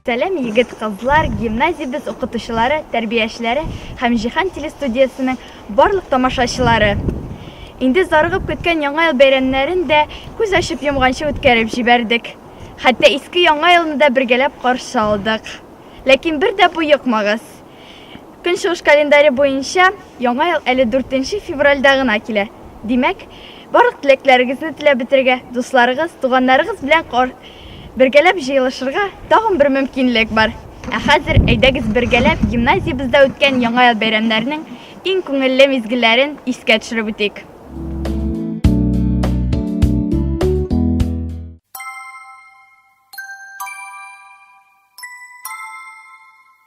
Сәләм егет кызлар, гимназиябез укытучылары, тәрбиячеләре һәм Җиһан телестудиясенең барлык тамашачылары. Инде зарыгып көткән яңа ел бәйрәмнәрен дә күз ачып йомганчы үткәреп җибәрдек. Хәтта иске яңа елны да бергәләп каршы алдык. Ләкин бер дә боекмагыз. Көнчыгыш календаре буенча Яңа ел әле 4 нче февральдә гына килә. Димәк, барлык теләкләрегезне теләп бетерергә, дусларыгыз, туганнарыгыз белән кар бергәләп җыелышырга тагын бер мөмкинлек бар. Ә хәзер әйдәгез бергәләп гимназиябездә үткән Яңа ел бәйрәмнәренең иң күңелле мизгелләрен искә төшереп үтик.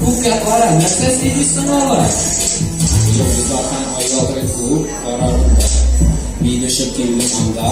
Күккә кара, нәрсә сөйлисең алай? Йолдызлардан аялды күк карарында. Мин өчен килде анда,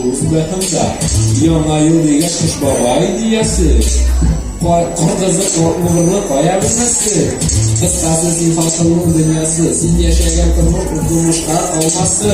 уф бәхемдә. Яңа ел дигән кыш бабай диясе. Кар кызы кортлыгырлы кая белмәсе. Кыскасы син хасылның дөньясы. Син яшәгән тормыш тормышка алмасы.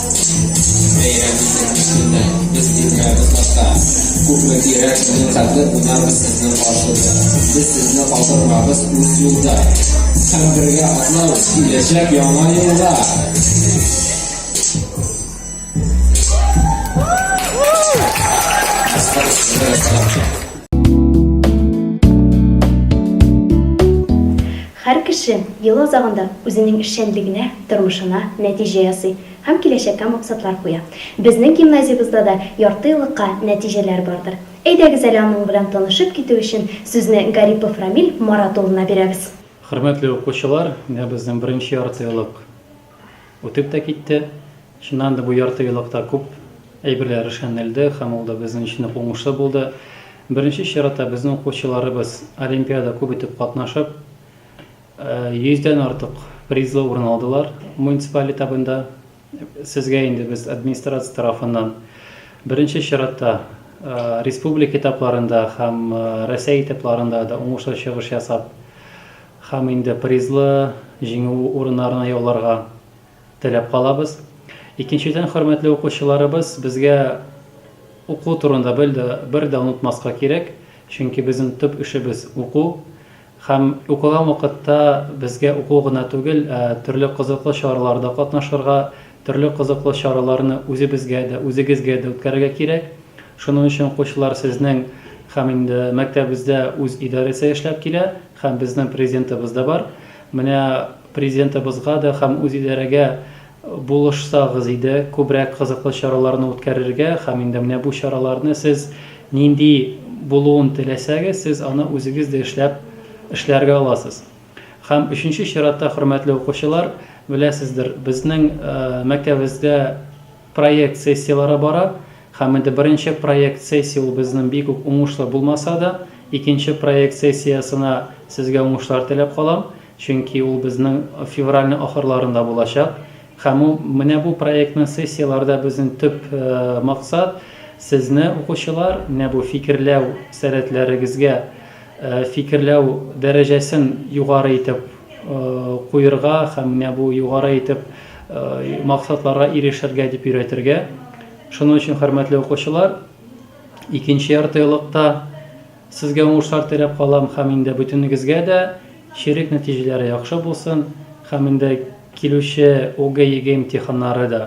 Бәйрәм итәм өстендә, без тилмерәбез башта. Күпме кирәк сезнең хәтле, кунабыз сезнең каршыда. Без сезне калдырмабыз үз юлда. Һәм бергә атлау киләчәк яңа елга. Һәр кеше ел азагында үзенең эшчәнлегенә тормышына нәтиҗә ясый һәм киләчәккә максатлар куя. Безнең гимназиябездә дә яртыеллыкка нәтиҗәләр бардыр. Әйдәгез әле аның белән танышып китү өчен сүзне Гарипов Рамил Марат улына бирәбез. Хөрмәтле укучылар, менә безнең беренче яртыеллык үтеп тә китте. Чыннан да бу яртыеллыкта күп әйберләр эшләнелде һәм ул да безнең өчен үк уңышлы булды. Беренче чиратта безнең укучыларыбыз олимпиада күп итеп катнашып, Йөздән артык призлы урын алдылар муниципаль этабында. Сезгә инде без администрация тарафыннан беренче чиратта республика этапларында һәм Рәсәй этапларында да уңышлы чыгыш ясап һәм инде призлы җиңү урыннарына яуларга теләп калабыз. Икенчедән, хөрмәтле укучыларыбыз, безгә уку турында бер дә бер дә онытмаска кирәк, чөнки безнең төп эшебез уку. Һәм укыган вакытта безгә уку гына түгел, ә төрле кызыклы чараларда катнашырга, төрле кызыклы чараларны үзебезгә дә, үзегезгә дә үткәрергә кирәк. Шуның өчен укучылар сезнең һәм инде мәктәбебездә үз идарәсе эшләп килә һәм безнең Президентыбыз да бар. Менә Президентыбызга да һәм үз идарәгә Булышсагыз иде, күбрәк кызыклы чараларны үткәрергә һәм инде менә бу чараларны сез нинди булуын теләсәгез, сез аны үзегез дә эшләп эшләргә аласыз. Һәм өченче чиратта, хөрмәтле укучылар, беләсездер, безнең мәктәбебездә проект сессияләре бара. Һәм инде беренче проект сессия ул безнең бик үк уңышлы булмаса да, икенче проект сессиясенә сезгә уңышлар теләп калам, чөнки ул безнең февральнең ахырларында булачак. Һәм ул менә бу проектның сессияләрдә безнең төп максат, сезне, укучылар, менә бу фикерләү сәләтләрегезгә, фикерләү дәрәҗәсен югары итеп куерга һәм менә бу югары итеп максатларга ирешергә дип өйрәтергә. Шуның өчен, хөрмәтле укучылар, икенче яртыелыкта сезгә уңышлар теләп калам һәм инде бөтенегезгә дә чирек нәтиҗәләре яхшы булсын һәм инде килүче ОГЭ-ЕГЭ имтиханнары да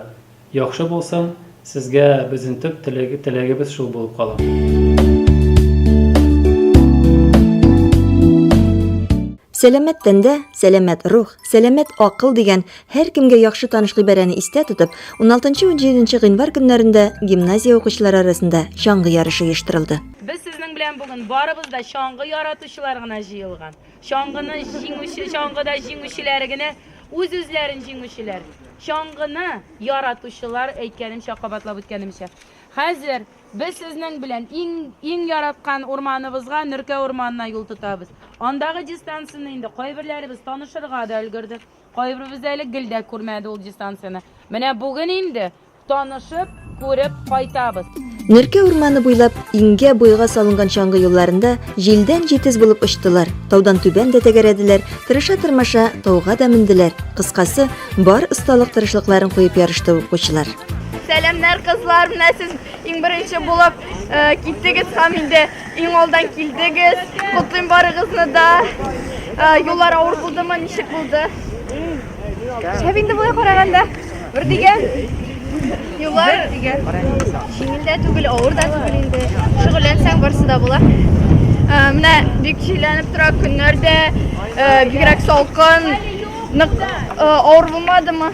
яхшы булсын, сезгә безнең төп теләгебез шул булып кала. Сәламәт тәндә, сәламәт рух, сәламәт акыл дигән Һәркемгә яхшы таныш гыйбарәне истә тотып, уналтынчы унҗиденче гыйнвар көннәрендә гимназия укучылары арасында чаңгы ярышы оештырылды. Без сезнең белән бүген барыбыз да чаңгы яратучылар гына җыелган. Чаңгыны җиңүче, чаңгыда җиңүчеләр генә, үз-үзләрен җиңүчеләр. Чаңгыны яратучылар, әйткәнемчә, кабатлап үткәнемчә. Хәзер без сезнең белән иң, иң яраткан урманыбызга, Нөркә урманына юл тотабыз. Андагы дистанцияне инде кайберләребез танышырга да өлгерде. Кайберебез дә әле гел дә күрмәде ул дистанцияне. Менә бүген инде танышып, күреп кайтабыз. Нөркә урманы буйлап иңгә, буйга салынган чаңгы юлларында җилдән җитез булып очтылар, таудан түбән дә тәгәрәделәр, тырыша-тырмаша, тауга да менделәр. Кыскасы, бар осталык тырышлыкларын куеп ярышты укучылар. Сәламнәр, кызлар! Менә сез иң беренче булып киттегез һәм инде Иң алдан килдегез. Котлыйм барыгызны да. Юллар авыр булдымы? Ничек булды? Шәп инде болай караганда. Бер дигән юллар дигән җиңел дә түгел, авыр да түгел инде. Шөгыльләнсәң барысы да була. Менә бик җилләнеп тора көннәр дә, бигрәк салкын. Нык авыр булмадымы?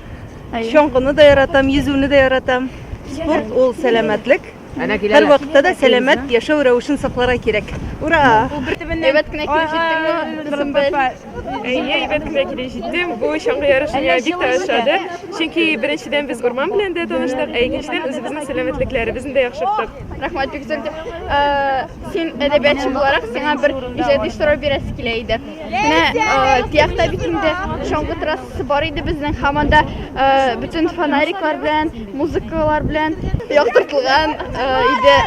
Чаңгыны да яратам, йөзүне дә яратам. Спорт ул сәламәтлек. Һәр вакытта да сәламәт яшәү рәвешен сакларга кирәк. Ура! Әйбәт кенә килеп җиттеңме, Дусымбел? Әйе, әйбәт кенә килеп җиттем. Бу чаңгы ярышы миңа бик тә ошады. Чөнки беренчедән без урман белән дә таныштык, ә икенчедән үзебезнең сәламәтлекләребезне дә яхшырттык. Рәхмәт, бик зур итеп. Син әдәбиятчы буларак, сиңа бер иҗади сорау бирәсе килә иде. Менә э, Тиякта бит инде чаңгы трассасы бар иде безнең һәм анда э, бөтен фонариклар белән, музыкалар белән яктыртылган э, иде.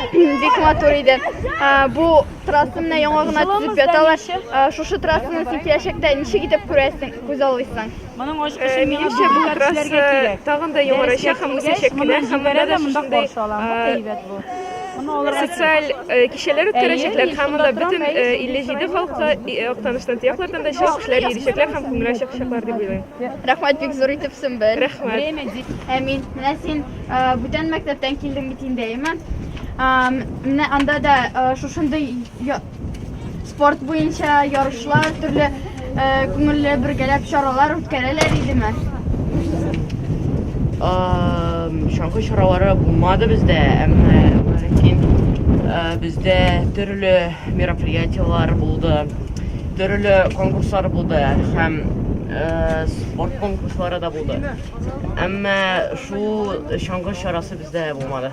Бик матур иде. Э, бу трасса менә яңа гына төзеп яталар. Э, шушы трассаны син киләчәктә ничек итеп күрәсең, күз алыйсың? Моның ачкычын миңа Минемчә, бу дубликат якраз эшләргә э, кирәк. тагын да яңарачак Дәрескә һәм килгәч, үсәчәк кенә моны һәм монда җибәрәм дә дә монда шушындый каршы алам. Бу э, әйбәт бу. Моны алырга кирәк. социаль э, кичәләр Әйе, үткәрәчәкләр мин һәм шунда монда торам, бөтен әйе, э, сезнең 57 сораган халыклы сораган. и- Актаныштан, Тыяклардан да чын кешеләр йөрячәкләр һәм күңел ачачаклар дип уйлыйм. Рәхмәт бик зур итеп, Сөмбел. Рәхмәт. Время ди. Әмин, менә син э, бүтән мәктәптән килдең бит инде, әйеме? Ам, Менә анда да э, шушындый я- Спорт буенча ярышлар, төрле э, күңелле бергәләп чаралар үткәрәләр идеме? Ам, Чаңгы чаралары булмады бездә, әмма ләкин э, бездә төрле мероприятиеләр булды, төрле конкурслар булды һәм э, спорт конкурслары да булды. Әмма шул чаңгы чарасы бездә булмады.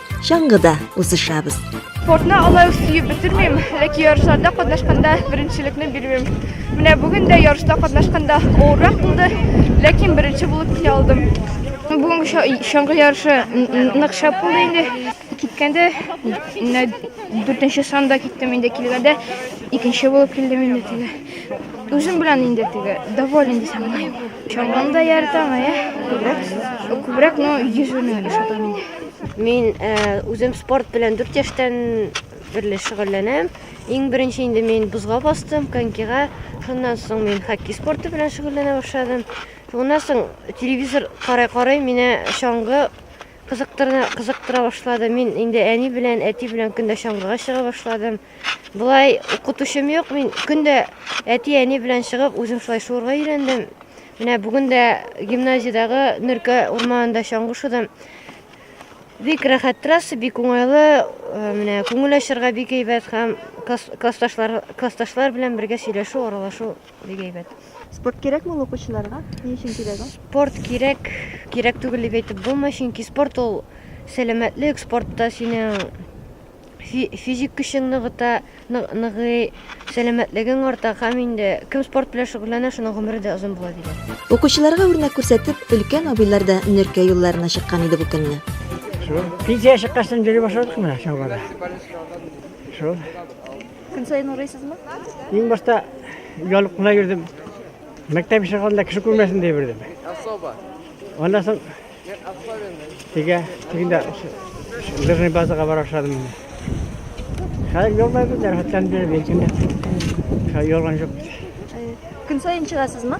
чаңгыда узышабыз. Спортны алай ук сөеп бетермим, ләкин ярышларда катнашканда беренчелекне бирмим. Менә бүген дә ярышта катнашканда авыррак булды, ләкин беренче булып килә алдым. Бүгенге чаңгы ярышы нык шәп булды инде. Киткәндә дүртенче санда киттем инде, килгәндә икенче булып килдем инде. Үзем белән инде теге доволен дисәм була. Чаңгыны да яратам, ә күбрәк күбрәк ну йөзүне ошатам инде. Мин э, үзем спорт белән 4 яшьтән берле шөгыльләнәм. Иң беренче инде мин бузга бастым, конькига. Шуннан соң мин хоккей спорты белән шөгыльләнә башладым. Шуннан соң телевизор карай-карай мине чаңгы Кызыктырына, кызыктыра башлады. Мин инде әни белән, әти белән көндә чаңгыга чыга башладым. Болай укытучым юк, мин көндә әти, әни белән чыгып, үзем шулай шуырга өйрәндем. Менә бүген дә гимназиядәге Нөркә урманында чаңгы шудым. Бик рәхәт трасса, бик уңайлы, э, менә күңел ачарга бик әйбәт һәм класс, классташлар, классташлар белән бергә сөйләшү, аралашу Бик әйбәт. Спорт кирәкме ул укучыларга? Ни өчен кирәк ул? Спорт кирәк, кирәк түгел дип әйтеп булмый, чөнки спорт ул сәламәтлек, спортта синең физик көчең ныгыта, ныгый, сәламәтлегең арта һәм инде кем спорт белән шөгыльләнә, шуның гомере дә озын була диләр. Укучыларга үрнәк күрсәтеп, өлкән абыйлар да нөркә юлларына чыккан иде бу көнне. Шул. Пенсия чыккач, йөри башладык менә чалбарда. Шул. Көн саен урыйсызмы? Иң башта ялып кына йөрдем. Мәктәп ишек алдында кеше күрмәсен дип йөрдем. Особо. Аннан соң тегә тегендә лыжный базага бара башладым. Хәзер ялмай бит, рәхәтләнеп йөрим, иркенләп. Ялган юк. Көн саен чыгасызмы?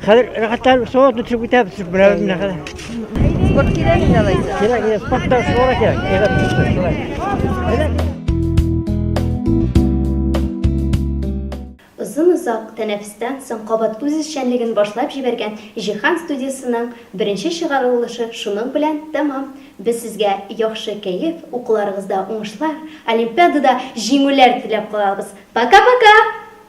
Хәзер рәхәтләнеп суга төшеп китәбез шул белән менә хәзер. Спорт кирәк инде алай. Кирәк, кирәк, спортта суга кирәк. Әйдәп төште, шулай. Әйдәп. Озын-озак тәнәфестән соң кабат үз эшчәнлеген башлап җибәргән Җиһан студиясенең беренче чыгарылышы шуның белән тәмам. Без сезгә яхшы кәеф, укуларыгызда уңышлар, олимпиадада җиңүләр теләп калабыз. Пока-пока!